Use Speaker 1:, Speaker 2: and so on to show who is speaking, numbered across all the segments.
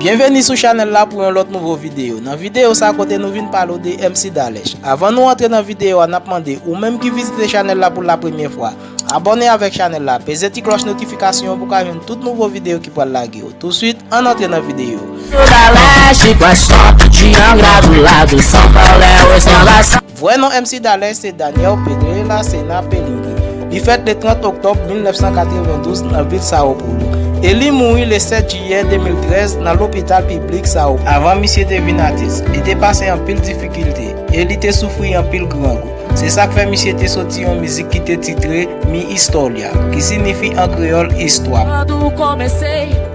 Speaker 1: Byenveni sou chanèl la pou yon lòt nouvo videyo. Nan videyo sa kote nou vin pale ou de MC Dalesch. Avan nou antre nan videyo a nap mande ou menm ki vizite chanèl la pou la premye fwa. Abòne avèk chanèl la, peze ti klòch notifikasyon pou ka jwenn tout nouvo videyo ki pral lage yo. Touswit, ann antre nan videyo. Vrè non MC Daley se Daniel Pedro de la Cena Pelingui. Li fèt le 30 oktòb 1992 nan vil Sao Paulo, e li mouri le 7 jiyè 2013 nan lopital piblik Sao Paulo. Avan misye te vin atis, li te pase anpil difikilte, e li te soufri anpil grangou. Se sa k fè misye te soti yon mizik ki te titre Mi Historia, ki sinifi an kreyòl Istwa m.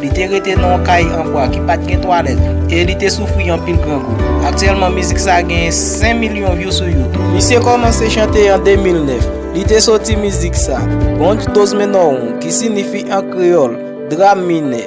Speaker 1: Li te rete nan yon kay an bwa ki pa t gen twalèt e li te soufri anpil grangou. Aktyèlman mizik sa a genyen 5 milyon vyou sou YouTube. Misye kòmanse chante an 2009. Li te soti mizik sa, Bonj Dos Menorron ki sinifi an kreyòl, Dram minè.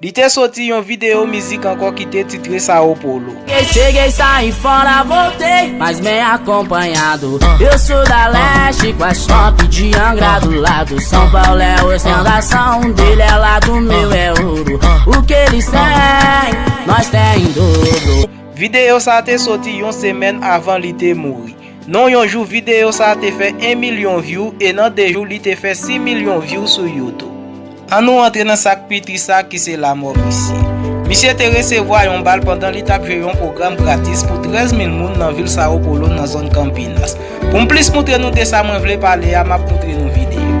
Speaker 1: Li te soti yon videyo mizik ankò ki te titre Sao
Speaker 2: Paulo. Videyo sa te
Speaker 1: soti yon semèn avan li te mouri. Non yon jou videyo sa te fè 1 milyon vyou e nan 2 jou li te fè 6 milyon vyou sou YouTube. An nou antre nan sa k pi tris la ki se lamò misye. Misye te resevwa yon bal pandan li t ap jwe yon pwogram gratis pou 13 mil moun nan vil Sao Paulo nan zòn Campinas. Pou m plis moutre nou de sa mwen vle pale a m ap moutre nou videyo.